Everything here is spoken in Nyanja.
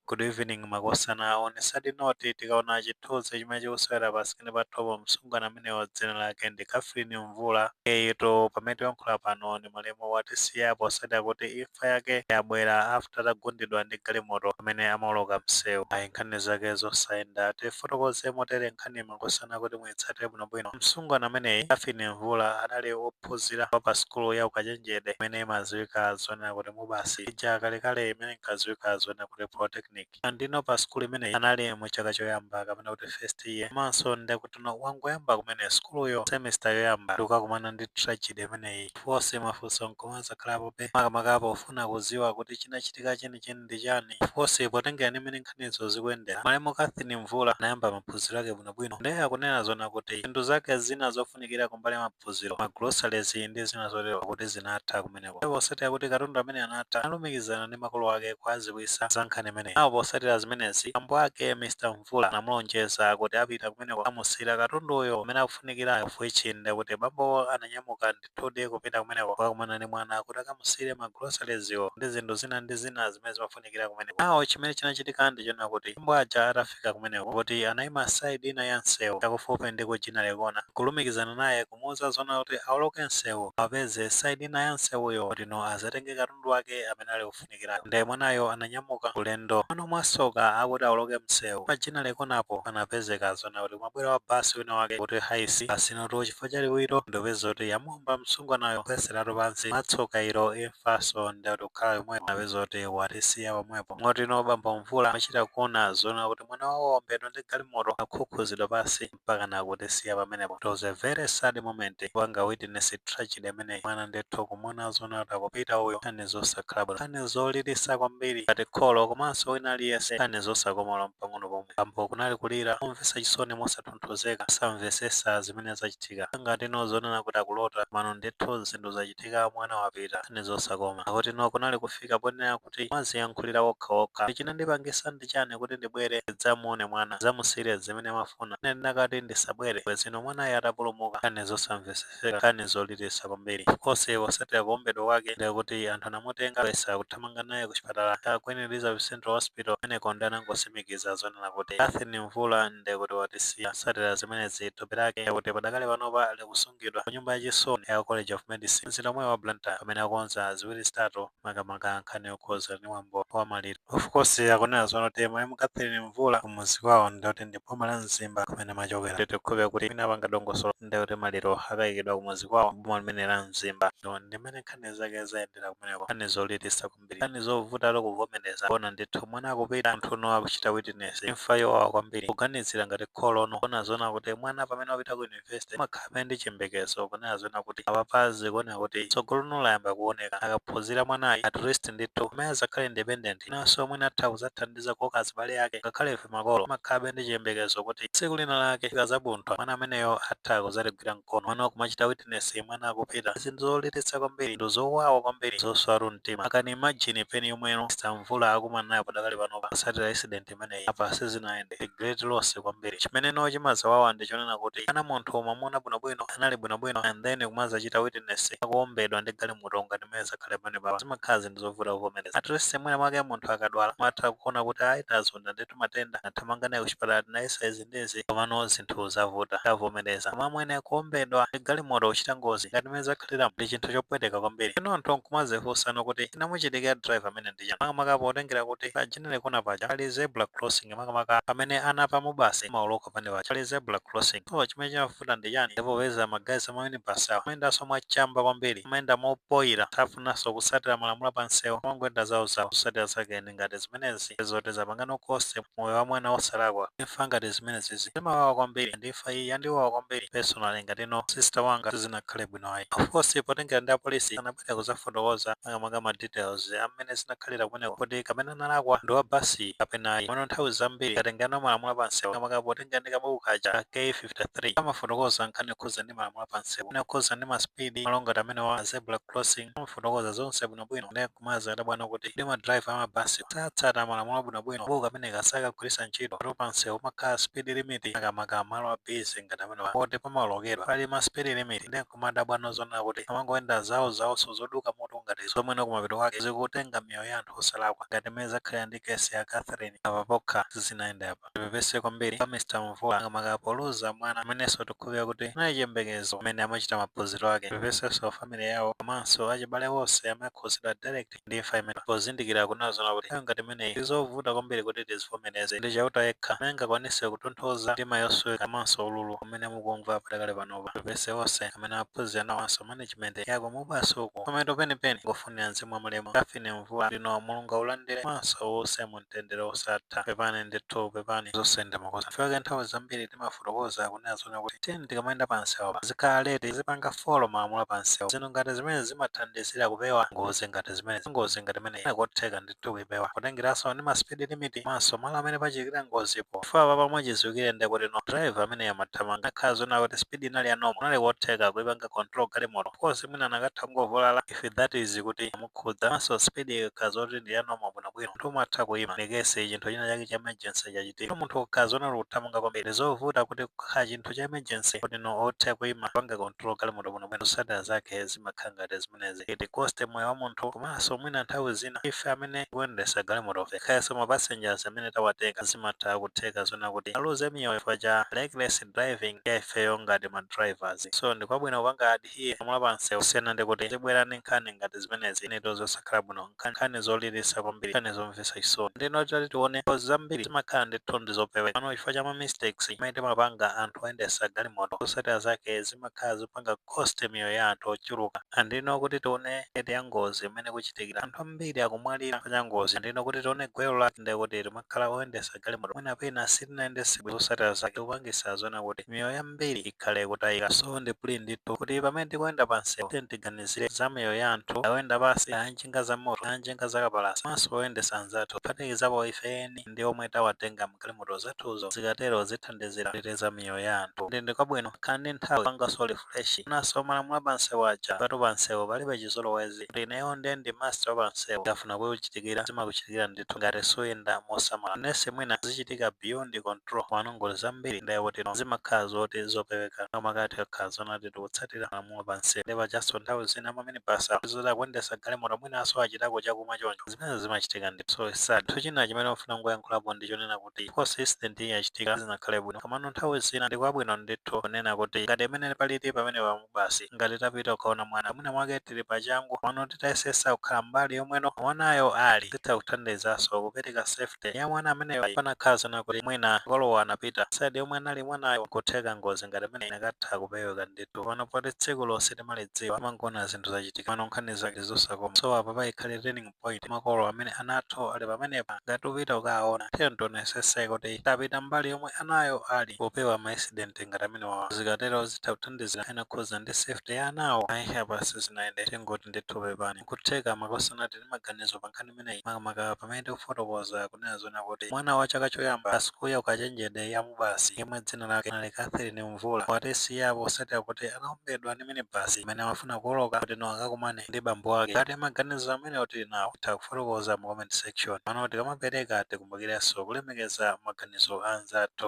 Good evening makosana zonse sadi noti tikaona chithunzi chimene chikusewera pa sikini pathopo msungwana ameneyo dzina lake ndi Catherine Mvula eyetu pamene tiyankhula pano ndi malemu watisiya posatira kuti imfa yake yabwera after atagundidwa ndi galimoto pamene amaoloka msewu ayi nkhani zake zosayenda tifotokoze motere nkhani makosana kuti muitsatire bwinobwino msungwana ameneyi Catherine Mvula adali op ophunzira wa pa sukulu ya ukachenjede imene imaziwika zonena kuti MUBAS ija kalekale imene inkaziwika zonena kuti Polytechnic. Andino pa sukulu imeneyi anali mu chaka choyamba kapena kuti first year komanso nde akuti no wangoyamba kumene sukuluyo semester yoyamba ndikukakumana ndi tragedy imeneyi. Of course mafunso nkumazakhalapobe makamaka pofuna kuziwa kuti chinachitika cheni cheni ndi chani. Of course potengera ndi mene nkhanizo zikuyendera malemu Catherine Mvula anayamba maphunziro ake bwino bwino nde akunena zonena kuti zinthu zake zina zofunikira kumbali ya maphunziro, ma groceries ndi zina zotero kuti zinatha kumeneko. Ndipo posatira kuti katundu ameneyu anatha, analumikizana ndi makolo ake kuwadziwitsa za nkhani imeneyi. Now posatira zimenezi, bambo ake Mr Mvula anamulonjeza kuti apita kumeneko kukamusiira katunduyo amene akufunikirayo of which nde kuti bambowo ananyamuka ndithudi kupita kumeneko kukakumana ndi mwana kuti akamusiire ma groceries wo ndi zinthu zina ndi zina zimene zimafunika zofunikira kumeneko. Now chimene chinachitika ndi chonena kuti abambo aja atafika kumeneko kuti anaima side ina ya nsewu chakufupi ndi ku Ginnery Corner nkulumikizana naye kumuuza zonena kuti aoloke nsewu awapeze side ina ya nsewuyo kutino azatenge katundu wake amene ali ofunikirayo nde mwanayo ananyamuka ulendo. Komano mwasoka akuti aoloke msewu pa Ginnery Corner po panapezeka zonena kuti kumabwera wa bus wina wake kuti Hiace bus inotu chifukwa cha liwiro nde kupeza kuti yamu womba msungwanayo kugweseratu pansi mwatsoka ilo imfanso nde akuti kukhala yomweyo napeza kuti watisiya pomwepo motino bambo Mvula amachita kuona zonena kuti mwana wawo waombedwa ndi galimoto akhukhuzidwa pansi mpakana kutisiya pamenepo it was a very sad moment kupanga witness tragedy imeneyi mwana ndithu kumuona zonena kuti akupita uyu nkhani zosakhala bwino nkhani zolilisa kwambiri ngati kholo komanso wina aliyense nkhani zosakoma olo mpang'ono pomwe bambo kunali kulira momvesa chisoni mosat osatonthozeka osamvesesa zimene zachitika ngati no zonena kuti akulota komano ndithu zinthu zachitika mwana wapita nkhani zosakoma akuti no kunali kufika ponena kuti amaziyankhulira okha okha ndi chinandipangisa ndi chani kuti ndibwere ndidzamuone mwana ndidzamusiyire zimene amafuna ine ndinakati ndisabwere bwezi no mwanayo atapulumuka nkhani zosamvesesa. Zingakhale nkhani zolilitsa kwambiri. Of course posatira kuombedwa kwake ndi akuti anthu anamutenga kuyesa kuthamanga naye ku chipatala cha Queen Elizabeth Central Hospital kumeneko ndi anangosimikiza zonena kuti Catherine Mvula ndi kuti watisiya. Posatira zimenezi thupi lake ndi akuti padakali panopa likusungidwa ku nyumba ya chisoni ya College of Medicine mzinda omwewu wa Blantyre pamene akonza ziwiri zitatu makamaka nkhani yokhudzana ndi mwambo wa maliro. Of course akunena zonena kuti malemu Catherine Mvula kumudzi kwawo ndi kuti ndi m'boma la Mzimba kumene amachokera. Tikukhulupirira kuti mwina apanga dongosolo ndiye kuti maliro akayikidwa kumudzi kwawo m'boma limene la Mzimba. Umu ndi mmene nkhani zake zayendera kumeneko. Nkhani zolilitsa kwambiri. Nkhani zovutatu kuvomereza. Kuona ndithu mwana akupita, munthunu akuchita witness imfa yowawa kwambiri. Kuganizira ngati kholo no. Kunena zoona kuti mwana pamene wapita ku yunivesite umakhalabe ndi chiyembekezo. Kunena zoona kuti apapa zikuoneka kuti tsogolo no layamba kuoneka. Akaphunzira mwanayi at least ndithu ameneyu adzakhale independent. inanso mwina atha kudzathandiza kukoka azibale ake, ngakhale ife makolo timakhalabe ndi chiyembekezo kuti tsiku lina lake ikazabuntha, mwana ameneyo atha kudzatigwira mkono. Koma kumachita witness mwana akupita, ndi zinthu zolilitsa kwambiri, zinthu zowawa kwambiri, zoswatu mtima. I can imagine pain yomwe Mr Mvula akumana nayo padakali panopa, kutsatira accident imeneyi. imeneyi apa sizinayende great loss kwambiri chimene no chimazawawa ndi chonena kuti mwana munthu umamuona bwinobwino anali bwinobwino and then kumazachita witness akuombedwa ndi galimoto ngati mmene zakhalira pamenepa zimakhala zinthu zovuta kuvomereza at least mwina mwake munthu akadwala umatha kuona kuti ayi tazonda ndithu matenda tathamanga naye kuchipatala tinayesa izi ndi izi komano zinthu zavuta. Tavomereza. Koma amwene kuombedwa ndi galimoto kuchita ngozi ngati mmene zakhaliramu ndi chinthu chopweteka kwambiri. Ndiyeno anthu n'kumadzifunsano kuti chinamuchitikira driver ameneyu ndi chani makamaka potengera kuti pa Ginnery Corner paja pali zebra crossing makamaka pamene ana apa MUBAS amaoloka pamene paja pali zebra crossing. So chimene chimavuta ndi chani? Ndipo popeza ma guys a ma minibus awa amayendanso mwachamba kwambiri, amayenda mopoira, safunanso kutsatira malamulo a pamsewu amangoyenda zawozawo zosatsatira zake. zake ngati zimenezi ndi zoti zapanga no cost moyo wa mwana wosalakwa. Imfa ngati zimenezizi zimawawa kwambiri and imfa iyi yandiwawa kwambiri personally ngati no sister wanga sizinakhale bwino ayi. Of course potengera ndi apolisi sanabwere kuzafotokoza makamaka ma details a mmene zinakhalira kumeneko kuti kapena analakwa ndi wa basi kapena ayi komano nthawi zambiri tikatengera no malamulo a pa msewu makamaka potengera ndi kabuku kaja ka K53 kamafotokoza nkhani yokhuzana ndi malamulo a pa msewu, nkhani yokhuzana ndi ma speed, malo ngati amenewa, ma zebra crossing amafotokoza zonse bwinobwino. Nde. Nkumazi dabwano kuti kodi ma driver a mabasi satsata malamulo bwinobwino? Kabuku kameneka sakagwiritsa ntchito poti pa msewu pamakhala speed limit makamaka malo a busy ngati amenewa poti pamaolokedwa pali ma speed limit nde nkumadabwano zonena kuti amangoyenda zawo zawoso zoduka mutu ngati zomweno kumapeto kwake zikutenga miyoyo ya anthu osalakwa ngati mmene zakhalira ndi case ya Catherine apa pokha sizinayende ayi. Tipepese kwambiri kwa Mr Mvula makamaka poluza mwana amenenso tikukhulupirira kuti anali chiyembekezo pamene amachita maphunziro ake. Tipepesenso family yawo komanso achibale onse amene akhudzidwa direct ndi imfa imeneyi pozindikira kunena zoona kuti nthawi ngati imeneyi ndi zovuta kwambiri kuti tizivomereze. Ndi Chauta yekha amene angakwanitse kutonthoza mtima yosweka komanso ululu umene mukumva padakali panopa. Tipepese onse amene amaphunzira nawo komanso management ya ku MUBAS uku. Pamapeto penipeni nkufunira mzimu wa malemu Catherine Mvula kutino Mulungu aulandire komanso uuse mu mtendere wosatha pepani ndithu pepani zosayenda makosana fact yake nthawi zambiri timafotokoza kunena zona kuti tiyeni tikamayenda pa msewu apa tizikhala alert tizipanga follow malamulo a pa msewu zinthu ngati zimenezi zimathandizira kupewa ngozi ngati zimenezi ngozi ngati imeneyi kunali kotheka ndithu kuipewa kutengeranso ndi ma speed limit komanso malo amene pachitikira ngozipo chifukwa apapa mwachidziwikire ndi kuti no driver ameneyu amathamanga anakhala zona kuti speed inali ya normal kunali kotheka kuipanga control galimoto of course mwina anakatha kungovulala if that is kuti kukhudzanso speed ikakhala zoti ndi ya normal bwino bwino munthu umatha kuima in case chinthu china chake cha emergency chachitika munthu ukakhala zona uli kuthamanga kwambiri ndi zovuta kuti kukhala chinthu cha emergency kuti no uthe kuima kupanga control galimoto bwino bwino zotsatira zake zimakhala ngati zimenezi iti costs moyo wa munthu komanso mwina nthawi zina ife amene tikuyendetsa galimotofe kayanso ma passengers amene tawatenga zimatha kutheka zona kuti aluze miyoyo chifukwa cha reckless driving ya ifeyo ngati ma drivers so ndi kwabwino kupanga adhere malamulo pa msewu kusiyana ndi kuti tizibwera ndi nkhani ngati zimenezi izitu zosakhala bwino nkhani zolilisa kwambiri nkhani zomvetsa chisoni ndeno titati tione ngozi zambiri zimakhala ndithu ndi zopeweka komano chifukwa cha ma mistakes amene timapanga anthu oyendesa galimoto zosatira zake zimakhala zopanga cost miyoyo ya anthu ochuluka and no kuti tione rate ya ngozi mmene ikuchitikira anthu ambiri akumwalira chifukwa cha ngozi and no kuti tione gwero lake ndekuti tima khala oyendesa galimoto mwina pena sitinayendese bwino zosatira zake kupangisa zona kuti miyoyo yambiri ikhale ikutayika so ndi plea ndithu kuti pamene tikuyenda pa msewu tiyeni tiganizire za miyoyo ya anthu kaya oyenda pasi kaya anjinga za moto kaya anjinga za kapalasa komanso oyendesa anzathu kuphatikizapo ife eni ndi omwe tawatenga mu galimoto zathuzo zikatero zithandizira kuteteza miyoyo ya anthu nde ndikwabwino kukhala ndi nthawi yopangaso refresh komanso malamulo apansewu aja patu pansewu palibe chizolowezi kuti ineyo nde ndi master wa pansewu zikafuna kukuchitikira zimakuchitikira ndithu ngati suyenda mosamala unless mwina zichitika beyond control komano ngozi zambiri nde kuti no zimakhala zoti zopeweka makamaka tikakhala zona kuti tikutsatira malamulo pansewu nde pajanso nthawi zina ma minibus awa zoti akuyendesa galimoto mwinanso achitako chakumwa choncho zimenezi zimachitika ndithu so it's sad chinthu china chimene ndikufuna kungoyankhulapo ndi chonena kuti kuti course incident iyi yachitika zinakhale bwino komano nthawi zina ndi kwabwino ndithu kunena kuti ngati mmene palili pamenepa pa Mubasi ngati tapita kukaona mwana mwina mwake tili pachangu komano titayesesa kukhala mbali yomweno mwanayo ali zitha kuthandizaso kupereka safety ya mwana ameneyo panakhala zona kuti mwina makolowo anapita side yomwe anali mwanayo nkutheka ngozi ngati imeneyi inakatha kupeweka ndithu komano poti tsikulo sitimalidziwa umangona zinthu zachitika komano nkhani zake zosakoma so apa payikhale turning point makolo amene ana athu ali pamenepa ngati mukupita kukaawona tiyeni tionesese kuti tapita mbali yomwe anayo ali popewa ma accident ngati amenewawa zikatero zitha kuthandizira ainakhuza ndi safety ya anawo ayi apa sizinayende tingoti ndithu pepani nkutheka makosana tili ndi maganizo pa nkhani imeneyi makamaka pamene tikufotokoza kunena zoona kuti mwana wa chaka choyamba pa sukulu ya ukachenjede ya Mubasi yemwe dzina lake anali Catherine Mvula watisiyapo posatira kuti anaombedwa ndi minibus mmene amafuna kuwoloka kuti no akakumane ndi bambo ake ngati maganizo amene tili nawo titha kufotokoza mu comment section pano tikamapereka tikumbukirenso kulemekeza maganizo a anzathu.